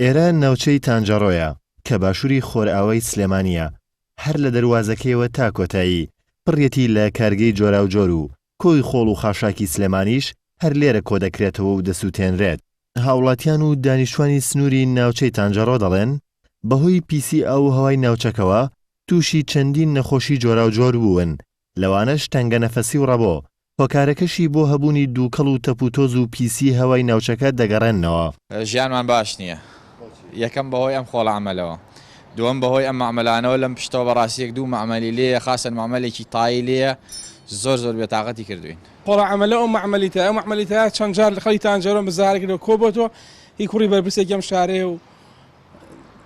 ئێران ناوچەی تانجەڕۆیە کە باشووری خۆرئاوای سلێمانییە، هەر لە دەروازەکەیەوە تا کۆتایی، پڕیەتی لە کارگەی جۆراوجۆر و کۆی خۆڵ و خاشاکی سلێمانیش هەر لێرە کۆدەکرێتەوە و دەسووتێنرێت. هاوڵاتیان و دانیشتوانی سنووری ناوچەی تانجەڕۆ دەڵێن، بەهۆی پیسی ئاو و هەوای ناوچەکەوە تووشی چەندین نەخۆشی جۆراوجۆر بوون لەوانەش تەنگەنەفەسی و ڕەبۆ، هۆکارەکەشی بۆ هەبوونی دووکەڵ و تەپوتۆز و پیسیی هەوای ناوچەکە دەگەڕێننەوە. ژیانمان باش نییە، یەکەم بەهۆی ئەم خۆڵە ئەمەلەوە، دووەم بەهۆی ئەم مەعمەلانەوە، لەم پشتەوە بەڕاستی یەک دوو مەعمەلی لێیە، خاسەن مەعمەلێکی تای لێیە، زۆر زۆر بێتاقەتی کردووین. خۆڵە ئەمەلە ئەو مەعمەلی تای، ئەو مەعمەلی تایە چەند جار خەڵکی تانجەرۆن بە زارەکی لێوە کۆبۆتەوە، هی کوڕی بەرپرسێکی ئەم شارەیە و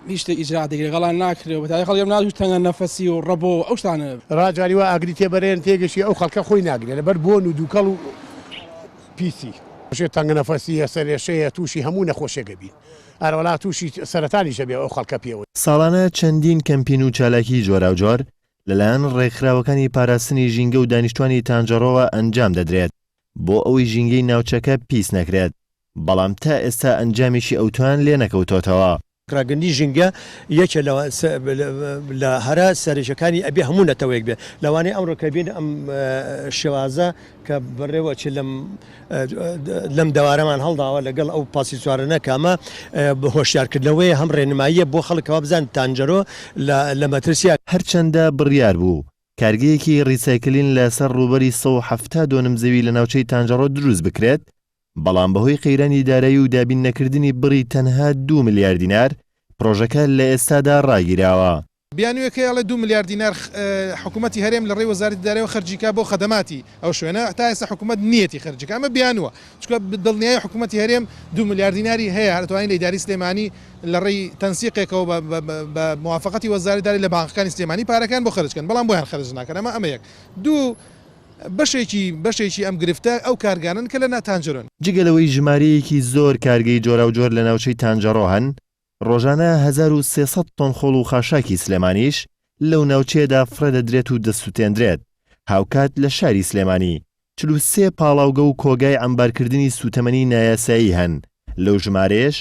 نیشتە ئیجرا دەگرێ گەڵان ناکرێ بە تای خەڵگەم ناوی تەنگە نەفەسی و ڕەبۆ ئەو شتانە. را جاری وا ئاگری تێ بەرێن تێگەشی ئەو خەڵکە خۆی ناگرێ لەبەر بۆن و دووکەڵ و پیسی. شێ تەنگ نەفەسیە سەرێشەیە تووشی هەموو نەخۆشێک ئەبین ئەرە وەڵا تووشی سەرەتانیش ئەبێ ئەو خەڵکە پێوە. ساڵانە چەندین کەمپین و چالاکی جۆراوجۆر لەلایەن ڕێکخراوەکانی پاراستنی ژینگە و دانیشتوانی تانجەڕۆوە ئەنجام دەدرێت بۆ ئەوەی ژینگەی ناوچەکە پیس نەکرێت، بەڵام تا ئێستا ئەنجامێکی ئەوتۆیان لێ نەکەوتۆتەوە. ڕاگرتنی ژینگە یەکێ لە لە هەرە سەرەکیەکانی ئەبێ هەموو نەتەوەیەک بێ لەوانەیە ئەمڕۆ کە بین ئەم شێوازە کە بەڕێوە چێ لەم لەم دەوارەمان هەڵداوە لەگەڵ ئەو پاسی چوارەنە کامە بە هۆشیارکردنەوەی هەم ڕێنماییە بۆ خەڵکەوە بزان تانجەرۆ لە مەترسیە. هەرچەندە بڕیار بوو کارگەیەکی ریسایکلین لە سەر رووبەری سەد و حەفتا دۆنم زەوی لە ناوچەی تانجەڕۆ دروست بکرێت، بەڵام بەهۆی قەیرانی دارایی و دابین نەکردنی بڕی تەنها دوو ملیار دینار، پرۆژەکە لە ئێستادا راگیراوە. بیانووێکەی ئەڵێ دوو ملیار دینار حکوومەتی هەرێم لە ڕێی وەزارەتی دارایەوە خەرجی کا بۆ خەدەماتی ئەو شوێنە، تا ئێستا حکوومەت نییەتی خەرجی کا، ئەمە بیانووە، چونکە دڵنیای حکوومەتی هەرێم دوو ملیار دیناری هەیە، هەر دەتوانین لە ئیدارەی سلێمانی لە ڕێی تەنسیقێکەوە بە بە موافەقەتی وەزارەت دارێ لە بانقەکانی سلێمانی پارەکەیان بۆ خەرج کەن، بەڵام بۆیان خەرج ناکەن ئەمە ئەمە یەک. دوو، بەشێکی بەشێکی ئەم گرفتە ئەو کارگانەن کە لە نا تانجەرۆن. جگە لەوەی ژمارەیەکی زۆر کارگەی جۆراوجۆر لە ناوچەی تانجەڕۆ هەن، ڕۆژانە هەزار و سێ سەد تۆن خۆڵ و خاشاکی سلێمانیش لەو ناوچەیەدا فڕێدەدرێت و دەسوتێندرێت، هاوکات لە شاری سلێمانی چل و سێ پاڵاوگە و کۆگای عەمبارکردنی سوتەمەنی نایاسایی هەن، لەو ژمارەیەش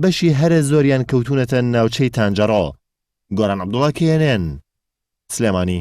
بەشی هەرە زۆریان کەوتونەتە ناوچەی تانجەڕۆ. گۆران عەبدوڵا، کێ ئێن ئێن، سلێمانی.